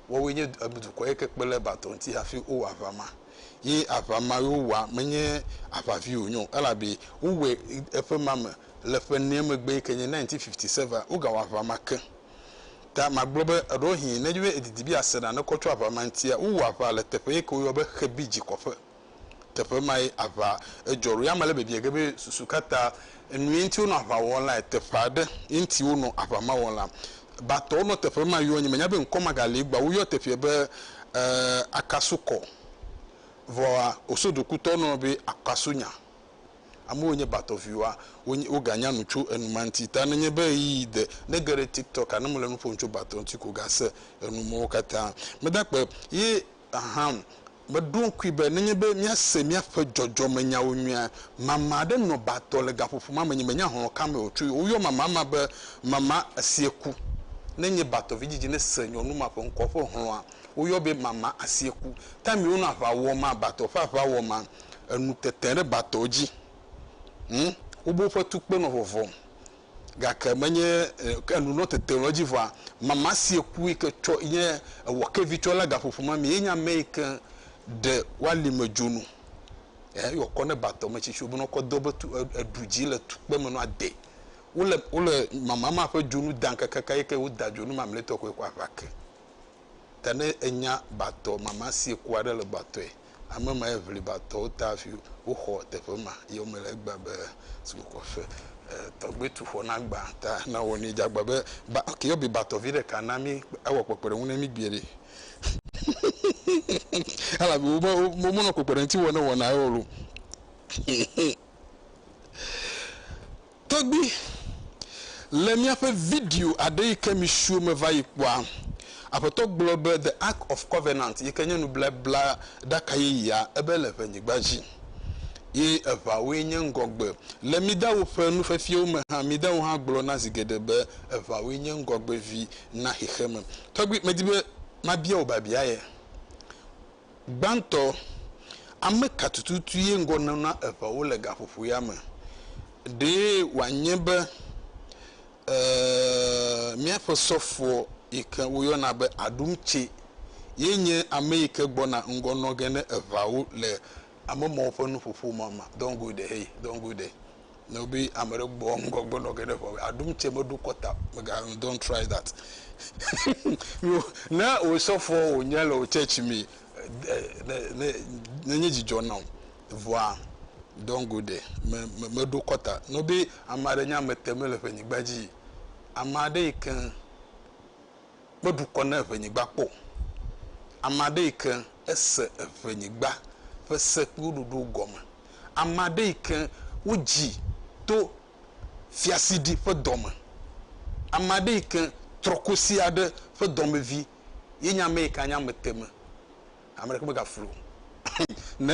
woawoe nye dukɔ yi ke kpe ɖe Bato ŋuti hafi wowɔ aʋa ma. Ye aʋa ma yi wowɔa menye aʋa vi wonye o elabe wowɔe eƒe ma me le ƒe enea megbe yi ke nye nineteen fifty seven. Wogawɔ aʋa ma ke. Ta magblɔ be eɖewohĩ ne dzi be edidi be yease nane kɔ tso aʋa ma ŋutia, wowɔ aʋa le teƒe yi ke woyɔ be Xebi dzikɔƒe. teƒe mae aʋa edzɔ ɖo. Ame le biabia ge be susu ka ta enue ŋuti wonɔ aʋa wɔm lae? Teƒe aɖe ye ŋuti wonɔ aʋa ma wɔm la. Batɔwo nɔ teƒe ma yɔ, nyemenya be ŋkɔ magali egbɔa, woyɔ teƒea be Akasukɔ. Vɔa, Osodokutɔwo nɔnɔ be Akasunya. Amewo yi nye Batɔ viwoa, wonye, woganya nu tso enu ma ŋuti. Ta nenye be ɣeyiɣi de, ne ege ɖe TikTok-a, ne mele nu ƒom tso Batɔ ŋuti ko, gase enu mawo katã. Meda akpe ye hã o. Meɖo ŋkui be nenye be míase míaƒe dzɔdzɔmenyawo nyuie. Mama aɖe nɔ ba tɔ le gaƒoƒo ma me. Nye menya hlɔ̃ ka me wòtsoe o. Woyɔ mama ma be Mama Asieku. Ne nye batɔ vidzidzi nese nyɔnu ma ƒe ŋkɔ ƒe hlɔ̃a, woyɔ be Mama Asieku. Taim wonɔ aʋa wɔm, batɔ ƒe aʋa wɔm, enu tete ɖe batɔ dzi. Hm, wobe woƒe tukpe nɔ vɔvɔm. gake menye ke nu nɔ tete nɔ edzi vɔa mama si eku yi ke tsɔ yi nye ewɔ ke vi tsɔ la gaƒoƒo ma mi yenye ame yi ke ɖe wali me dzonu eh yɔ kɔ ne batɔ me tsitsi wobɛnɔ kɔ do be tu eɖu dzi le tukpe me nɔ ade wole wole mama ma ƒe dzonu dan kakaka yi ke woda dzonu mamletɔ koe kɔ aʋa ke ta ne enya batɔ mama si eku aɖe le batɔe ame ma ye ŋlibatɔwo ta hafi woxɔ teƒe ma ye wome le egbea be sukukɔ fe tɔgbe tu xɔ na gba ta na wɔ ne dza gba be ba ke yɔ bibatɔ vi ɖeka na mi ewɔ kpekpeɖeŋu ne mi gbeɖe elabe wome wome nɔ kpekpeɖeŋuti wɔ ne wɔna ewɔ lo Tɔgbi, Le miaƒe video aɖe yi ke misiwo meva yi kpɔa, Aƒetɔ gblɔ be The Ark of Covenant yi ke nye nublablɛɖaka yeyea ebe le ʋenyigba dzi. Ye eʋawoe nye ŋgɔgbe. Le Midawo ƒe nufiafiawo me hã, Midawo hã gblɔna zi geɖe be eʋawoe nye ŋgɔgbevi na xexeme. Tɔgbi, medi be mabia wò biabia ye. Gbãtɔ, ame ka tututue ŋgɔ nana eŋewo le gaƒoƒo ya me? Ɖe wòanye be e míaƒe sɔfo yi ke woyɔna be Adumtse ye nye ame yi ke gbɔna ŋgɔ nɔ ge ne eŋeawo le ame mawo ƒe nuƒoƒo ma me? Don't go there, hey, don't go there. ne wò be ame ɖe gbɔ ŋgɔ gbɔ nɔ geɖe ʋɔ be aɖum tse meɖo kɔta mega nu don't try that yo ne wò sɔfɔ wònye le wò church me ne ne ne nye dzidzɔ nɔ vɔa don't go there me me meɖo kɔta ne wò be ame aɖe nye ame te mele ƒe nyigba dzi ame aɖe yi ke kpe ɖukɔ ne eŋenyigba kpɔ o. Ame aɖe yi ke ese eŋenyigba ƒe se kple wo ɖoɖowo gɔme. Ame aɖe yi ke wodzi to fiasiɖi ƒe dɔ me. Ame aɖe yi ke trɔkosi aɖe ƒe dɔmevi ye nye ame yi ke anye ameteme. Ame ɖeke megaflu o. Ne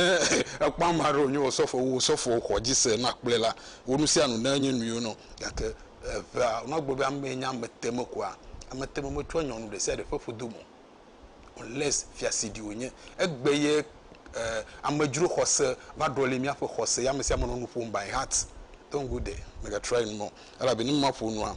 ekpɔ ame aɖe wònye osɔfo wu osɔfo xɔ dzi se nɔ akplɔe la, wɔ nu sia nu ne enye nuyɔ nɔ. Gake eŋea, ne wogblɔ be amee nye ameteme koa, ameteme metsɔa nyɔnu ɖe sia ɖe ƒe ƒodo me o. Unless fiasidi wònye. Egbe ye amedzro xɔse va ɖɔli míaƒe xɔse ye ame sia ame nɔ nu ƒom by heart. Don't go there. Mègatrɔa enu me o. Elabe ne maƒo nua,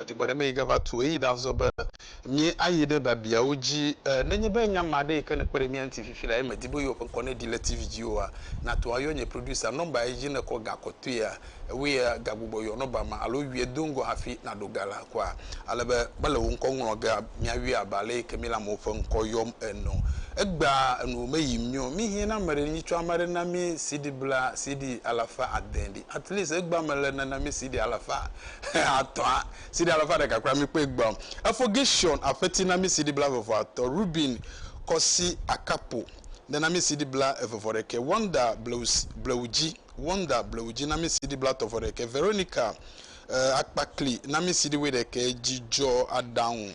Edi be ɖemee gava tu ɣeyiɣi ɖazɔ be míayi ɖe biabiawo dzi. Nenye be nya ma ɖe yi ke nekpe ɖe mía ŋuti fifi la ye medi be yewoƒe ŋkɔ neɖi le TV dzi oa, nàto ayɔ nye producer. Nɔmba yi dzi nèkɔ ga kɔtɔea, ewɔe gagbugbɔ yɔ nɔmba ma alo yɔe do ŋgɔ hafi nàɖo ga la kɔa. Ale be mele wò ŋkɔ ŋlɔm gea, míayɔe abe ale yi ke míele amewo ƒe ŋkɔ yɔm ene o. Egbea enuwò meyim nyɔ o. Míhiã ne ame ɖe tsɔ ame aɖe na mí CD bla CD alafa ade ɖi. At least egbea mele nana mí CD alafa atɔ̃a, sidi alafa ɖeka kple ami kpe egbeawo. Efɔ Gershon aƒeti na mi sidi blaeve-vɔ-atɔ̃, Ruben kɔ si akapo ɖe na mi sidi blaeve-vɔ-ɖekɛ, Wanda blewudzi, Wanda blewudzi na mi sidi blatɔ̃-vɔ-ɖekɛ, Veronica akpakli na mi sidi wuiɖekɛ, Dzidzɔaɖaŋu.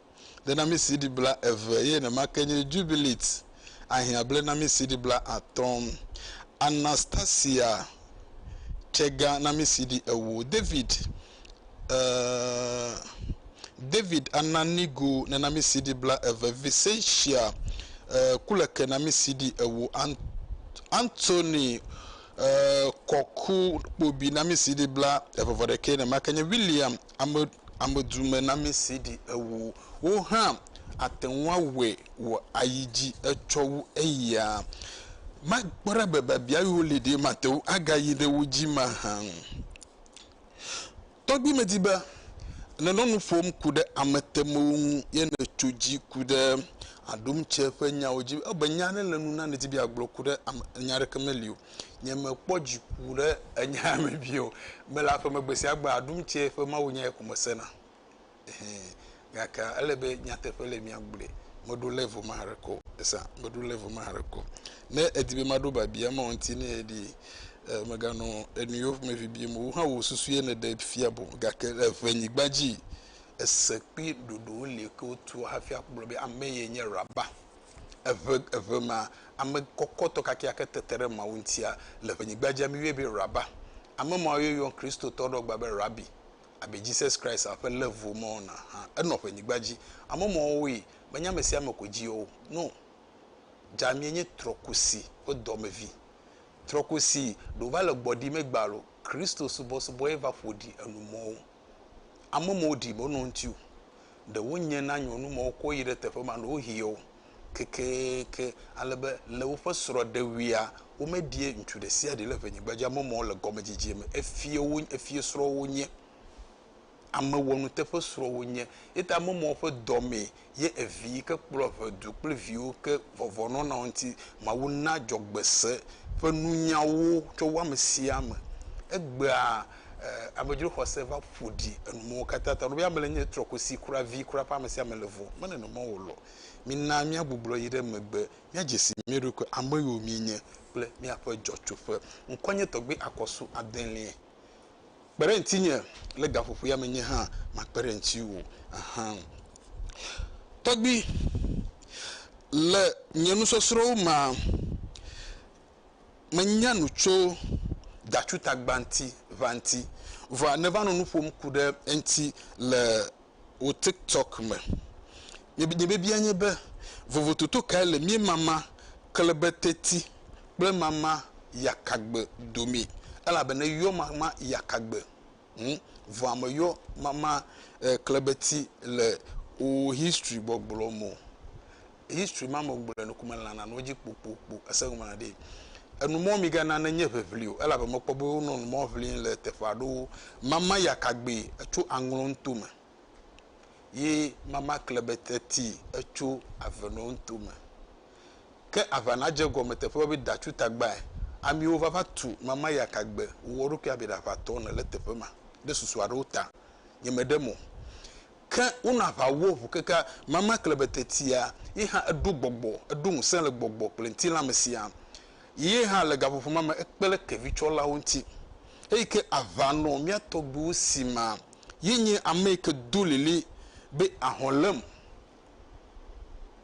blenami CD bla eve eye nemake nye Jubilate ahiã blenami CD bla atɔ̃, Anastasia Chega nami CD ewo, David uh, David Ananigo nenami CD bla eve, Vicentia uh, Kuleke nami CD ewo, Ant Anthony uh, Kɔku Kpobi nami CD bla eve vɔ ɖekɛ, nemake nye William Ame, amedumenamɛsee ɖi ewo. Wo hã ate ŋu awɔe wòayi dzi etsɔ wu eya. Makpɔ ɖa be biabia yiwo li ɖee mate ŋu agayi ɖe wo dzi mahã. Tɔgbi medi be nenɔ nu ƒom ku ɖe ametemewo ŋu ye nètso dzi ku ɖe aɖumtse ƒe nyawo dzi. Ewɔ abe nya aɖe le nu na nèdi be yeagblɔ ku ɖe ame, nya aɖeke meli o. Nye me kpɔ dziku ɖe enyaa me vi o. Me le aƒeme gbesiagbe aɖum tse ƒe mawunyae ko me sena. Ehe. Gake ele be nyateƒe le mia gblɔe. Me ɖo level ma haɖe ko. Esa. Me ɖo level ma haɖe ko. Ne edi be maɖo babia ma ŋuti ne eɖi e me ganɔ enuyo me bibim o. Wohã wò susue ne ɖe fia bo. Gake le eŋe nyigba dzi, ese kple ɖoɖowo li ke wotua hafi akplɔ be ame ye nye Rabba. Eve, eve ma, ame kɔkɔtɔ kakeake tete ɖe Mawu ŋutia le ʋenyigba dzi. Ami yɔe be Rabba. Ame mawo ye yɔn Kristotɔ ɖewo gba be Rabbi. Abe Jesus Christ a ƒe level ma ɔna hã. Enɔ ʋenyigba dzi. Ame mawo woe menye ame sia ame ko dzi yɔ wo. No. Djamie nye trɔkusi ƒe dɔmevi. Trɔkusi ɖe wova le gbɔɖi megbe alo. Kristo subɔsubɔ ye va ƒoɖi enu mɔwo. amewo ɖi me wonɔ ŋuti o. Ɖe wonye na nyɔnu ma wokɔ yi ɖe teƒe ma ɖewohĩ o kekeeke ale be le woƒe srɔ̃ɖewuia womeɖi ŋutsu ɖe sia ɖe le ʋenyigba dzi. Ame mawo le gɔmedzedzea me efiewo efiesrɔ̃wo wonye. Ame wɔnuteƒe srɔ̃wo wonye. Eya ta ame mawo ƒe dɔ mee ye evi yi ke kplɔ ƒe du kple viwo ke vɔvɔ nɔ na wo ŋuti. Mawu na dzɔgbe se ƒe nunya wo tso wo ame sia ame. Egbea amedzro xɔse va ƒo ɖi enu mawo katã ta. Nɔvia me le nye trɔ kusi kura vi kura ƒe ame sia ame le vɔ. Mele nene o lɔ. Mina mía gbuglɔ yi ɖe megbe mía dze si mía ɖokui ame yiwo mí nye kple mía ƒe dzɔtsoƒe. Ŋkɔ nye tɔgbui akɔsu adelie. kpe ɖe ŋutinye le gaƒoƒoea me nye hã makpe ɖe ŋutiwò ahan. Tɔgbui, le nye nusɔsrɔ̃wo mea, menya nu tso datsu tagba ŋuti ʋã ŋuti. Vɔa nèva nɔ nu ƒom ku ɖe eŋuti le. wò TikTok me. Nye biabia nye be, vovototo kae le mía mama klebeteti kple mama yakagbe dome? Elabena eyɔ mama yakagbe ŋu, vɔa meyɔ mama klebeti le wò history gbɔgblɔ me o. history ma me gblɔ nu kuma lana no dzi kpokpokpo ese ŋu mana ɖi enu mɔ mi gana ne nye ʋeʋli o elabe mekpɔ be wonɔ nu mɔ ʋli le teƒe aɖewo mama ya kagbe etso aŋlɔ ŋuto me ye mama kle be teti etso avenɔ ŋuto me ke avana dze gɔme teƒe be dacu tagbae amiwo vava tu mama ya kagbe wowɔ ɖokui abe ɖaʋatɔ ne le teƒe ma ɖe susu aɖewo ta nye me ɖe mo Ke wonɔ aʋa wɔ ʋu keke mama kle be tetia ye hã eɖo gbɔgbɔ, eɖo ŋusẽ le gbɔgbɔ kple ŋutilã me siaa. Ye hã le gaƒoƒo ma me ekpe ɖe kevitsɔlawo ŋuti. Eyi ke aʋa nɔ mía tɔgbuiwo si ma, ye nye ame yi ke do lili be ahɔ̃ lém.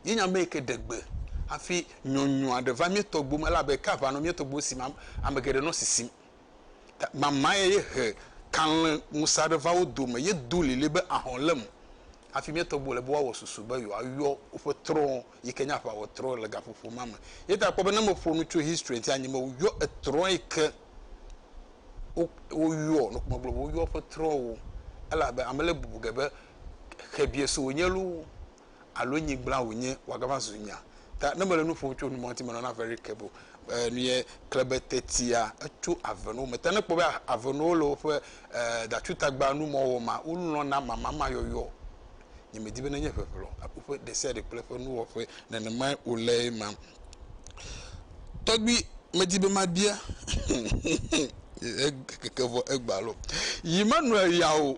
Ye nye ame yi ke ɖe gbe hafi nyɔnyrɔa ɖe va mía tɔgbuiwo me elabe ke aʋa nɔ mía tɔgbuiwo si ma, ame geɖe nɔ sisim. Mamae ye he kalẽ ŋusẽ aɖe va wo dome. Yedo lilin be, Ahɔ̃ lém! Hafi mía tɔgbuiwo le be woawɔ susu be yewoayɔ woƒe trɔ̃ yi ke nye aʋawɔtrɔ̃ le gaƒoƒo ma me. Eya ta kpɔ be ne meƒo nu tso history ŋuti anyi be woyɔ etrɔ̃ yi ke wo, woyɔ, nɔ megblɔ be woyɔ woƒe trɔ̃wo. Elabe ame le bubu ge be xebiɛ so wònye loo, alo nyigblã wònye wòagava zu nya. Ta ne mele nu ƒom tso numa ŋuti menɔna very careful. Eh, nu ye kle be tetia etso avenuwo me. Ta ne kpɔ be avenuwo le woƒe eh, datutagba nu mɔ wɔ ma, wolɔna mamama yɔyɔ. Nye medi be nenye ʋeʋlɔ woƒe ɖesiaɖe kple eƒe nuwɔƒe nenemae wòle ema. Tɔgbui medi be mabia keke vɔ egbalo. Yi menɔe ya o.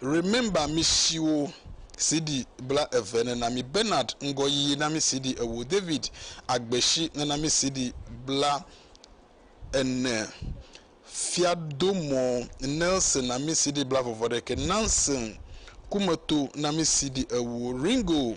Remember mi siwo CD bla eve nena mi Bernard ŋgɔyiyi na mi CD ewo David Agbesi nena mi CD bla ene Fiadomɔ Nelson na mi CD bla vɔvɔ ɖeke Nansen Kumeto na mi CD ewo Ringo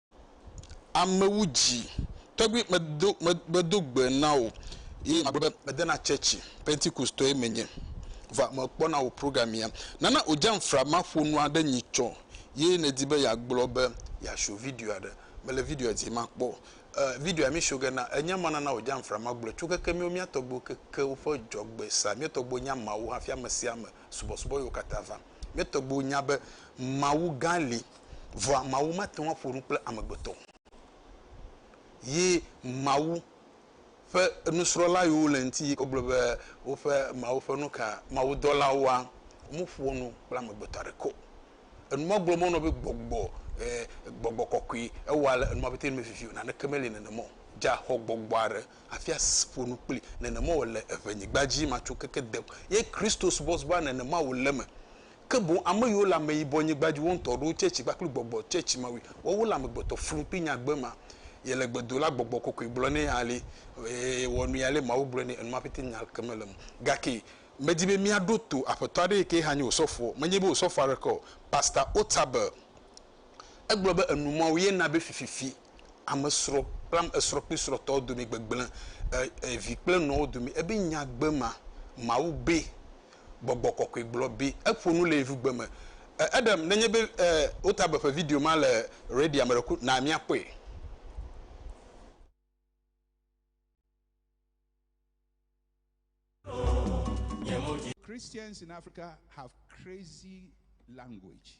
amewo dzi tɔgbi medo medo gbe na o ye magblɔ be medena tsɛtsi pentikostɔe menye va mekpɔna wò programia nana odzam fra maƒonu aɖe nyi tsɔ ye nedi be yeagblɔ be yeasho video aɖe mele video dzi makpɔ uh, video mi sho ge na enye ma nana odzam fra magblɔ tso keke miwo mia tɔgbiwo keke woƒe dzɔgbe sa mia tɔgbiwo nya mawu hafi ame sia ame subɔsubɔ yiwo katã va mia tɔgbiwo nya be mawu gã li Vɔa Mawu mate ŋu aƒo nu kple amegbetɔ o. Ye Mawu ƒe nusrɔ̃la yiwo le ŋuti wogblɔ be woƒe Mawu ƒe nu ka mawudɔlawoa, womeƒoa nu kple amegbetɔ aɖeke o. Enu ma gblɔ menɔ be gbɔgbɔ e, gbɔgbɔ kɔkɔe ewɔa le enu ma ƒete me vivi o. Naneke meli nenema o. Dza xɔ gbɔgbɔ aɖe hafi aƒo nu kpli. Nenema wòle eŋenyigba dzi matso keke de. Ye Kristo subɔsubɔa nenema wòle eme. ke boŋ ame yiwo le ameyibɔnyigba dzi, wo ŋutɔ ɖewo tse tsi kpakple gbɔgbɔ tse tsi mawui. Woawo le amegbetɔ flum kple nyagbe ma. Yele gbe do la gbɔgbɔ kɔkɔe gblɔ nɛ ale, Ee, wɔ nui ale Mawu gblɔe nɛ enu ma pɛtɛ nya ke mele eme. Gake medi be míaɖo to aƒetɔ aɖe yike hã nye wò sɔfoɔ, menye be wò sɔfoɔ aɖeke o, Pastor Otabil. Egblɔ be enu mawo ye na be fififi amesrɔ̃ kple ame esrɔ̃ kple srɔ̃tɔwo dome gbegblẽ, e, e, vi kple nɔwo dome ebe nyagbe ma, Mawu be, Gbɔgbɔ Kɔkɔe gblɔ be eƒo nu le yevugbe me. E, Adam, nenye be e, wota be ƒe video ma le Redia me ɖe ku, na míakpɔe. Christians in Africa have crazy language.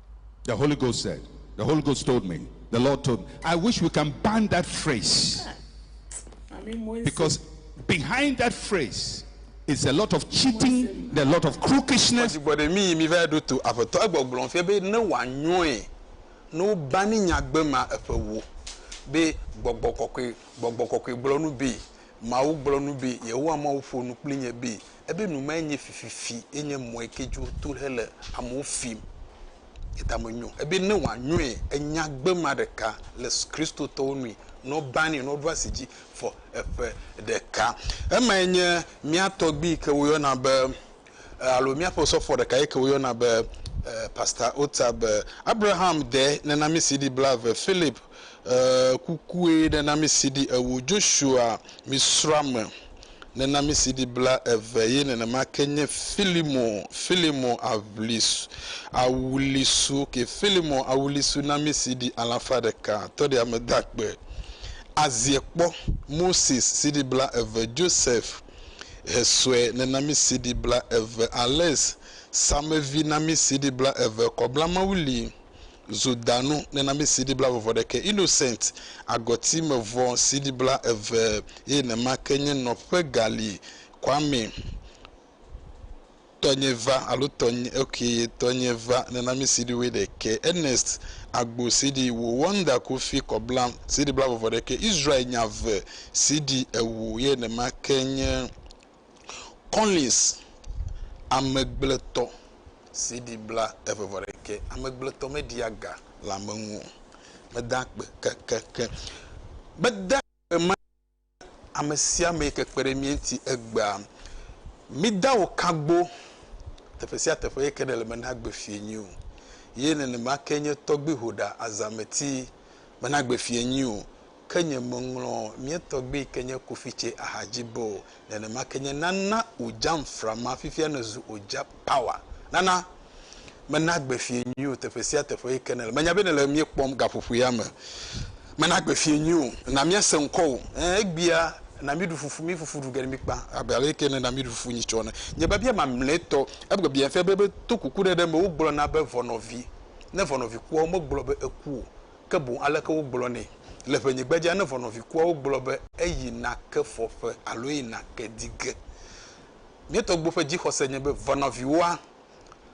The Holy Ghost said, The Holy Ghost told me, the Lord told me. I wish we can ban that phrase. Because behind that phrase is a lot of cheating, a lot of crookishness. be gbɔgbɔ kɔkɔe gbɔgbɔ kɔkɔe gblɔ nu be mawu gblɔ nu be yehowa mawu ƒo nu kpli nye be Ebe nu mae nye fififi ye nye mɔe ke dzi woto ɖe hele amewo fim. Ye ta menyo. Ebe ne wòanyoe enya gbe ma ɖeka le Kristotɔwo nui ne woba nɛ ne woɖo asi dzi fɔ eƒe ɖeka. Emae nye mía tɔgbui yi ke woyɔna be alo míaƒe osɔfoɔ ɖeka yi ke woyɔna be Pastor Otabil. Abraham de nenamisi ɖi blaeve, Philip E kukue ne na mi CD ewo. Joshua mi srɔa me ne na mi CD bla eve ye nenema ke nye Filimo Filimo Aʋlis Awulisu ok Filimo Awulisu na mi CD alafa ɖeka tɔ ɖe ame da kpe azie kpɔ Moses CD bla eve Joseph Hesue ne na mi CD bla eve Alex Samevi na mi CD bla eve Kɔbla Mawuli zo da nu nena mi siɖibla vɔvɔ ɖekɛ, innocent, agɔti me vɔ siɖibla eve eye nema ke nye nɔƒe gali Kwame tɔnye va alo tɔnye ok ye tɔnye va nena mi siɖi woe ɖekɛ, Ernest agbo siɖi wo wonder kofi kɔbla siɖibla vɔvɔ ɖekɛ, Israel nya ve siɖi ewo ye nema ke nye Kɔlins, amegbletɔ CD bla eve vɔ ɖekɛ, amegbletɔ meɖia ga le ame ŋu o, medaa akpe kekeake, medaa akpe ma ame sia ame yi ke kpe ɖe mía ŋuti egbea, mida wò kagbo teƒe sia teƒe yi ke nèle mena agbe fiẽ nyui o, ye nenema ke nye tɔgbi ƒoɖa azãmeti mena agbe fiẽ nyui o. Ke nye meŋlɔ mía tɔgbui yi ke nye Kofi Tse ahadzi be o. Nenema ke nye Nana Ojam Frama, fifia nèzu Oja Power. Nana, mena agbe fiẽ nyui o teƒe sia teƒe yi ke nèle. Menya be nèle mí kpɔm gaƒoƒo ya me. Mena agbe fiẽ nyui o. Na míase ŋkɔwò. Ẽ, egbea, na míɖu fufu, mí fufu ɖu ge ne míkpa, abe ale yi ke nèna míɖu fufu nyitsɔ ene. Nye biabia mamlɛtɔ, egbe biabiafia be, be to kuku ɖe ɖe me, wogblɔna be vɔnɔvi, ne vɔnɔvi kua, womegblɔ be eku o. ke boŋ aleke wogblɔ nɛ le ʋɛnyigbedzea ne ʋɔnɔvi kuawo gblɔ be eyi nake fɔƒe alo eyi nake di ge. Mía tɔgbuiwo ƒe dzixɔse nye be ʋɔnɔviwoa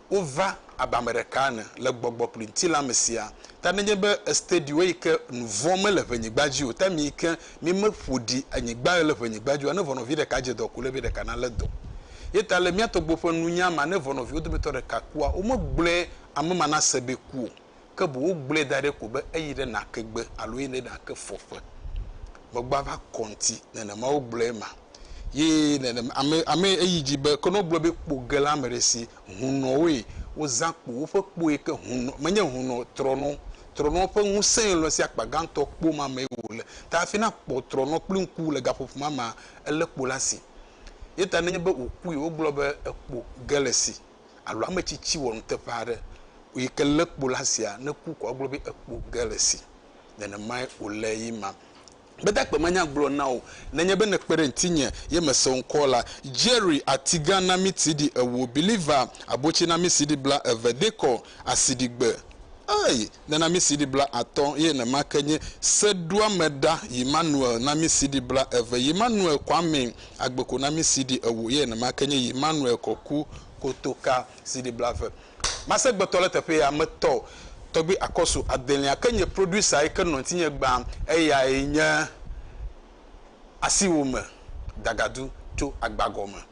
wova abe ame ɖeka ene le gbɔgbɔ kple ŋutilã me siaa. Ta nenye be estedi wo yike nu vɔ̃ mele ʋɛnyigba dzi o, ta mi yike mi me ƒo ɖi anyigba le ʋɛnyigba dzi oa, ne ʋɔnɔvi ɖeka dze dɔ ko le be ɖeka na le dɔ. Ye ta le mía tɔgbuiwo ƒe nunya ma ne ʋɔnɔviwo dometɔ ɖeka kua, wo me gblɔe ame ma na se be ku o. ke boŋ wogblẽe da ɖi ko be eyi ɖe nake gbe alo eyi ɖe nake fɔƒe. Megbɔa va kɔ ŋti, nenema wogblɔe ma. Ye nenem, ame, ame eyi dzi be, ke ne wogblɔ be kpo ge la ame ɖe si, hunɔwoe wozã kpo, woƒe kpoe ke hunɔ, menye hunɔ, trɔnɔ, trɔnɔ ƒe ŋusẽe lɔ̃ si akpa gãtɔ kpo ma mee wòle. Ta hafi nakpɔ trɔnɔ kple ŋku le gaƒoƒo ma mea, elé kpo la si. Ye ta nenye be wòkui, wogblɔ be ekpo ge le si. alo ame tsitsi wɔ nuteƒe aɖe yi ke lé kpo ɖe asia neku ko agblɔ be ekpo ge le esi. Nenemae wòle ye ma. Gbedagbe manya gblɔ na wò nenye be nèkpe ɖe ŋutinye ye mese wò ŋkɔ la. Jerry, atigã na mí siɖi ewo, Believer, abotsi na mí siɖi bla eve, Decor, asiɖigbe. Ey! nena mí CD bla atɔ ye nema ke nye seɖoameɖa Yimmanuel na mí CD bla eve, Yimmanuel Kwame Agbeko na mí CD ewo ye nema ke nye Yimmanuel Kɔku Kotoka CD bla eve. Masegbetɔ le teƒe ya me tɔ Tɔgbi Akɔsu Adelia ke nye producer yi ke nɔ ŋtinye gbã eyae nye Asiwome Dagadu tso Agbagɔme.